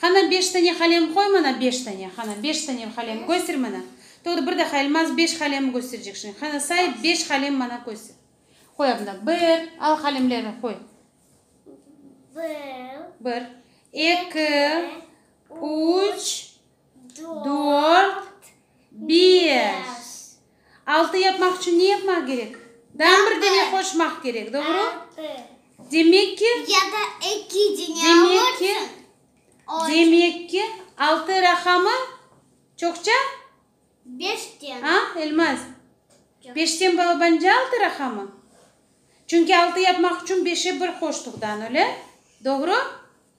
Hana beş tane halem qoy mana, beş tane, hana, beş tane halem köster mana. Toğru, bir daha Elmaz beş halem kösterecek şimdi. Hana, say, beş halem mana köster. Qoy adında, bir, al halemlerni qoy. Bir. Bir. Eki, üç, dört, beş. Altı yapmaq içün ne yapmaq kerek? Daa bir dene qoşmaq kerek, doğru? Demek ki, demek ki, demek ki, altı raqamı çoqça? A, Elmaz? Beşten balabancı altı raqamı? Çünki altı yapmaq içün beşe bir qoştuqdan, öyle? Doğru?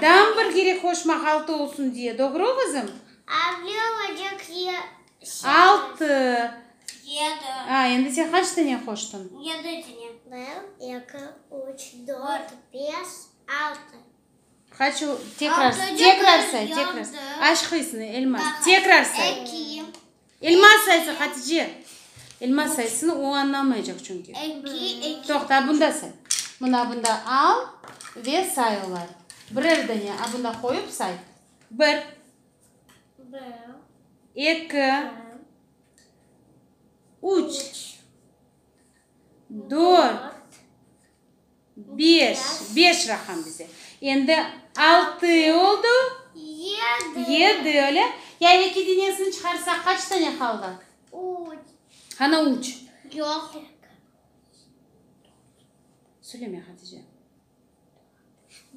Tam bir gerek hoş mahaltı olsun diye, doğru oğuzım? Altı. A, endi sen qaç tane qoştın? Bir, eki, üç, dört, beş, altı. Qaç, tekrar say, tekrar say. Aşqıysın, Elmaz, tekrar say. Elma saysa, Hatice! Elma saysın, o añlamaycaq çünki. Eki, eki. Toqta, bunda say. Mına bunda al ve say olar. Birer dane a bunda qoyıp say. Bir. Bir. Eki. Üç. Üç. Dört. Dört. Beş, beş raqam bize. Endi altı oldu. Yedi. Yedi, öyle? Ya eki deñesini çıqarsaq, qaç tane qaldı? Üç. Qana üç? Yoq. Söyleme, Hatice.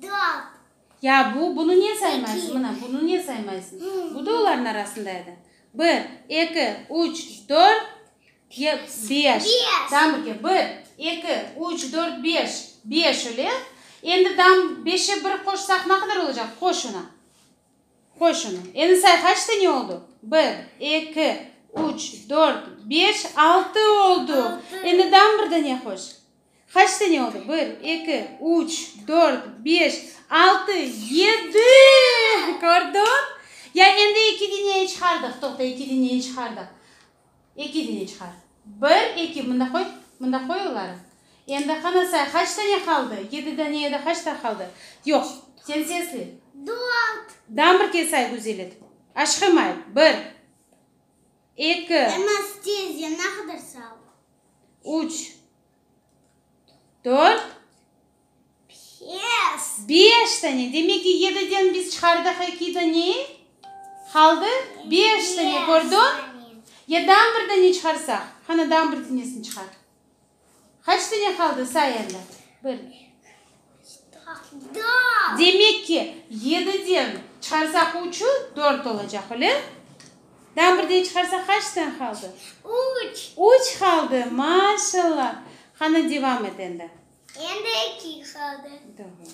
Dört. Ya bu, bunı ne saymaysın? İki. Mına, bunı ne saymaysın? Bu da oların arasında edi. Bir, eki, üç, dört, Ye, beş. Dam birge. Bir, eki, üç, dört, beş. Beş, öyle. Endi dam beşe bir qoşsaq ne qadar olacaq? Qoy şunı. Qoy şunı. Endi say, qaç saniye oldu? Bir, eki, üç, dört, beş, altı oldu. Endi dam bir dane qoş. Qaç dane oldu? Bir, eki, üç, dört, beş, altı, yedi! Kördiñ? Ya endi eki deneyi çıqardıq. Toqta, eki deneyi çıqardıq. Eki dine çıqar. Bir, eki, mında qoy, mında qoy oları. Endi qana say, qaç dane qaldı? Yedi dane ya da qaç daa qaldı? Yoq, sen sesli. Dört. Dan bir kez say güzel etip. Aşqım ayt, bir, eki. Emas, tez, yaña qadar say. Üç, dört. Pes! Beş sene, demek ki, yediden biz çıqardıq eki dane, qaldı beş dane, kördün? Ya dan bir dane çıqarsaq? Qana, dan bir danesini çıqar. Qaç dane qaldı, say endi. Bir, iki, üç, dört, dört! Demek ki, yediden çıqarsaq üçü, dört olacaq, öyle? Dan bir dane çıqarsaq, qaç dane qaldı? Üç! Üç qaldı, maşallah! Qana, devam et endi. Endi eki ifade. Tamam.